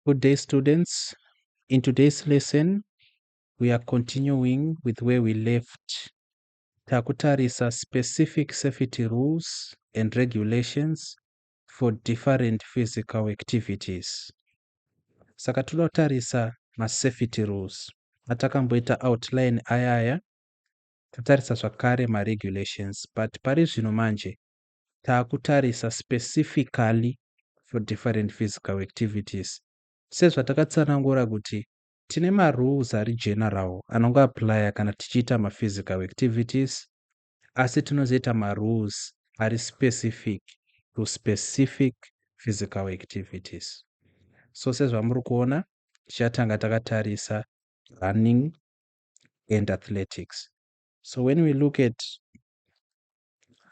Good day, students. In today's lesson, we are continuing with where we left. Takutarisa specific safety rules and regulations for different physical activities. Saka toda kutarisa masafety rules atakamboita outline ayaya totarisa zvakare maregulations but pari zvino manje takutarisa specifically for different physical activities sezvatakatsanangura kuti tine marules ari general anongo applya kana tichiita maphysical activities asi tinozoita marules ari specific to specific physical activities so sezvamuri kuona tichatanga takatarisa running and athletics so when we look at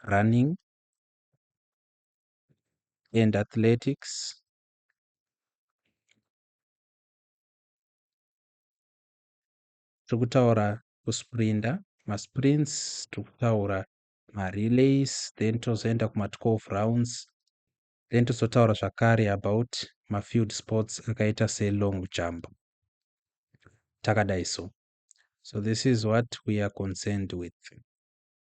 running and athletics tiri kutaura kusprinda masprints tiri kutaura marelays then tozoenda kuma12 rounds then tozotaura zvakare about mafield sports akaita selong jump takadai so so this is what we are concerned with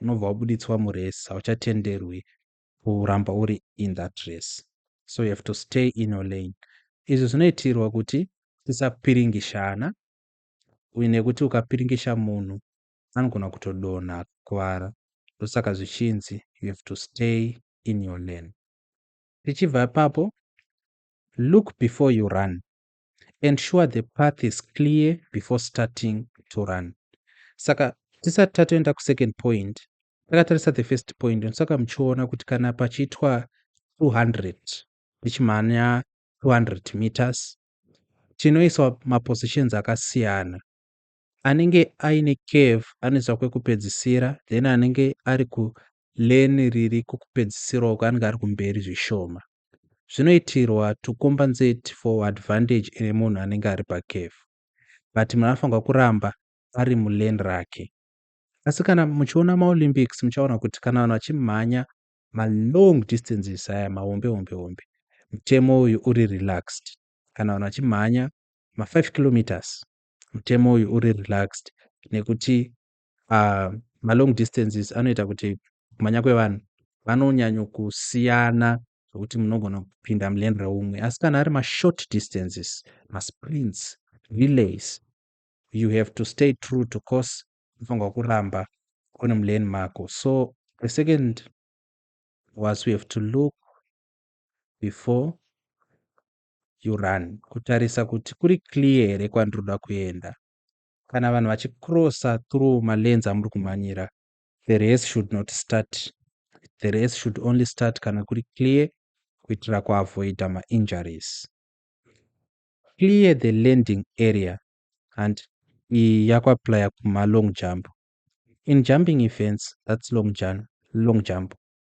unobva wabuditswa murace hauchatenderwi kuramba uri in that race so you have to stay in your lane izvi zvinoitirwa kuti tisapiringishana uye nekuti ukapiringisha munhu anogona kutodonha kuvara ndosaka zvichinzi you have to stay in your lane tichibva ipapo look before you run ensure the path is clear before starting to run saka tisati tatoenda kusecond point takatarisa the first point ndosaka muchiona kuti kana pachiitwa 200 tichimhanya 200 meters tinoiswa mapositions akasiyana anenge aine curve anoiswa kwekupedzisira then anenge ari kulane riri kwekupedzisira uko anenge ari kumberi zvishoma zvinoitirwa to compensate for advantage ine munhu anenge ari pacurve but munhu anofanirwa kuramba ari mulane rake asi kana muchiona maolympics muchaona kuti kana vanhu vachimhanya malong distances aya mahombe hombe hombe mutemo uyu uri relaxed kana vanhu vachimhanya ma5 kilometers mutemo uyu uri relaxed nekuti uh, malong distances anoita kuti kumhanya kwevanhu vanonyanyokusiyana zvokuti munogona kupinda muleni reumwe asi kana ari mashort distances masprints relays you have to stay true to course unofanirwa kuramba kune muleni mako so the second was we have to look before you run kutarisa kuti kuri clear here kwandiri kuda kuenda kana vanhu vachicrossa through malens amuri kumhanyira the race should not start the race should only start kana kuri clear kuitira kuavoida mainjuries clear the landing area and iyi yakuaplya kumalong jump in jumping events that's long jump, long jump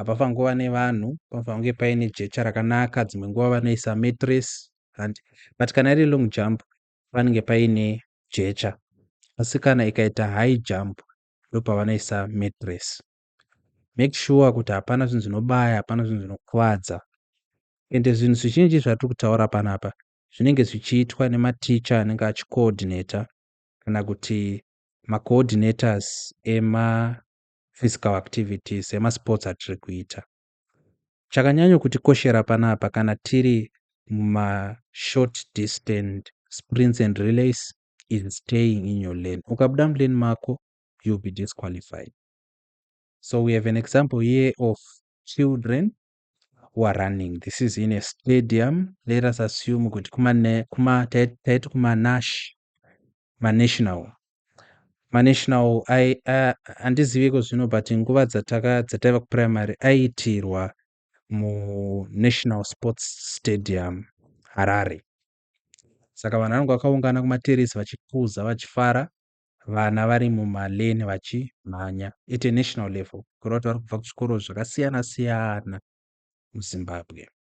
apa pangova nevanhu pange paine jecha rakanaka dzimwe nguva vanoisa matress and but kana iri long jump panenge paine jecha asi kana ikaita high jump ndopavanoisa matress make sure kuti hapana zvinhu zvinobaya hapana zvinhu zvinokuvadza ende zvinhu zvizhinji zvatiri kutaura panapa zvinenge zvichiitwa nematicha anenge achicoordinator kana kuti macoordinators ema physical activity semasports atiri kuita chakanyanyo kutikoshera panapa kana tiri mumashort distance sprints and relays is staying in your lane ukabuda mulane mako you'll be disqualified so we have an example here of children who are running this is in a stadium let us assume kuti kuma taiti kuma nash maNational. MaNational handizivi iko zvino but nguva dzataka dzataiva kuprimary aiitirwa muNational Sports Stadium Harare. Saka vanhu vanenge vakaungana kumaterisi vachikuza vachifara vana vari mumaleni vachimhanya at a national level kureva kuti vari kubva kuzvikoro zvakasiyana siyana muzimbabwe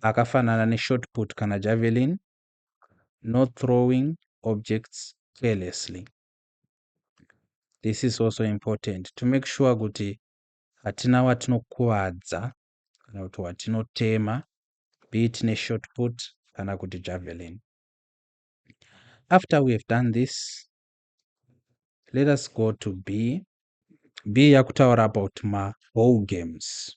akafanana neshort put kana javelin, not throwing objects carelessly. This is also important to make sure kuti hatina watinokuvadza kana kuti watinotema be it neshort put kana kuti javelin. After we have done this, let us go to B. B yakutaura about ma ball games.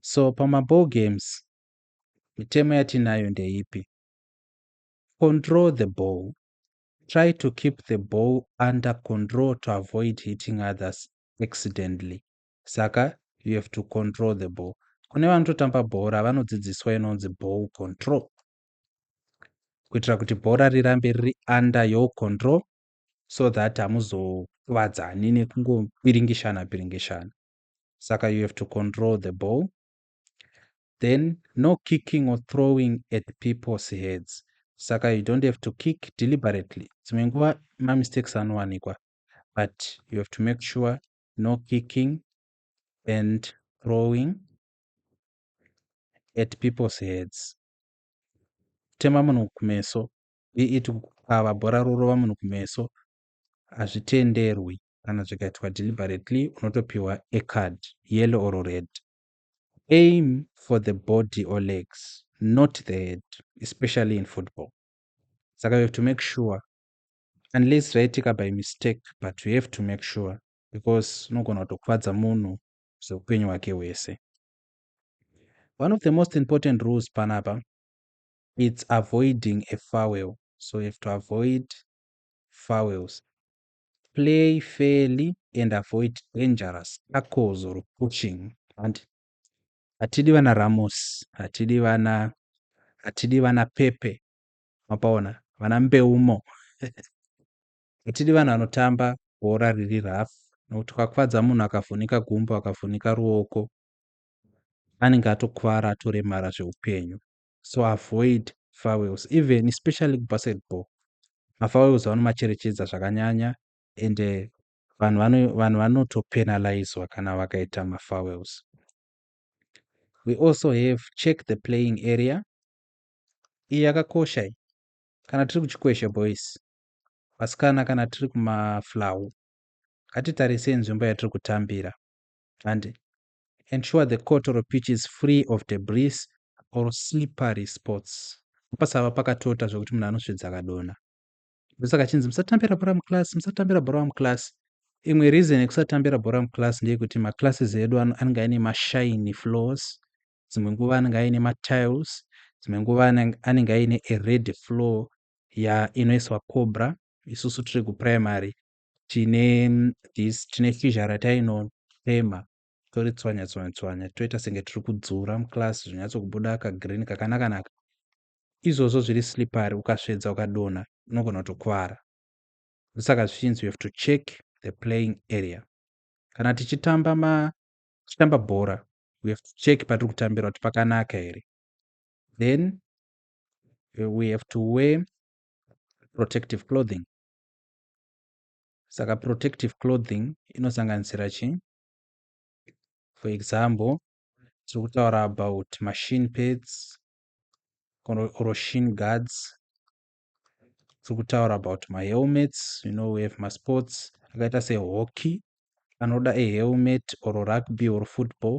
So pamaball games mitemo yatinayo ndeipi? Control the ball. Try to keep the ball under control to avoid hitting others accidentally. Saka you have to control the ball. Kune vanototamba bhora vanodzidziswa inonzi ball control kuitira kuti bhora rirambe riri under your control so that hamuzokuvadzani nekungopiringishana piringishana saka you have to control the ball then no kicking or throwing at people's heads saka you don't have to kick deliberately dzimwe nguva mamistakes anowanikwa but you have to make sure no kicking and throwing at people's heads kutema munhu kumeso be it kukava bhora rorova munhu kumeso hazvitenderwi kana zvikaitwa deliberately unotopiwa a card yellow or red aim for the body or legs not the head especially in football saka you have to make sure unless zvaitika by mistake but you have to make sure because unogona kutokuvadza munhu zveupenyu hwake hwese one of the most important rules panapa it's avoiding a farwell so you have to avoid farwells play fairly and avoid dangerous tackles or pushing and hatidi vana ramos hatidi vana hatidi vana pepe mapaona vana mbeumo hatidi vanhu vanotamba bhora riri rough nokuti kwakufadza munhu akavhunika gumbo akavhunika ruoko anenge atokuvara atoremara zveupenyu so avoid farewells even especially kubasketball mafarewells vanomacherechedza zvakanyanya and eh, vanhu uh, vanhu vanotopenalizwa kana vakaita mafarewells we also have check the playing area iyi yakakosha iyi kana tiri kuchikweshe boys vasikana kana tiri kumaflau ngatitarisei nzvimbo yatiri kutambira handi Ensure the court or pitch is free of debris or slippery spots. Pasava pakatota zvekuti munhu anosvedza akadonha. Ndosaka chinzi musatambira bhora muclass, musatambira bhora muclass. Imwe reason yekusatambira bhora muclass ndeyekuti maclasses edu anenge aine mashiny floors, dzimwe nguva anenge aine matiles, dzimwe nguva anenge aine a red floor ya inoiswa cobra isusu tiri kuprimary tine this tine shizha ratainotema toritswanya tswanya tswanya toita senge tiri kudzura muclass zvinyatsokubuda kagreen kakanakanaka izvozvo zviri slippery ukasvedza ukadonha unogona kutokuvara ndosaka zvichinzi you have to check the playing area kana tichitamba ma tichitamba bhora we have to check patiri kutambira kuti pakanaka here then eh, we have to wear protective clothing saka protective clothing inosanganisira chi for example tiri kutaura about machine pads or shin guards tiri kutaura about mahelmets you know we have masports akaita sehockey anoda ehelmet or rugby or football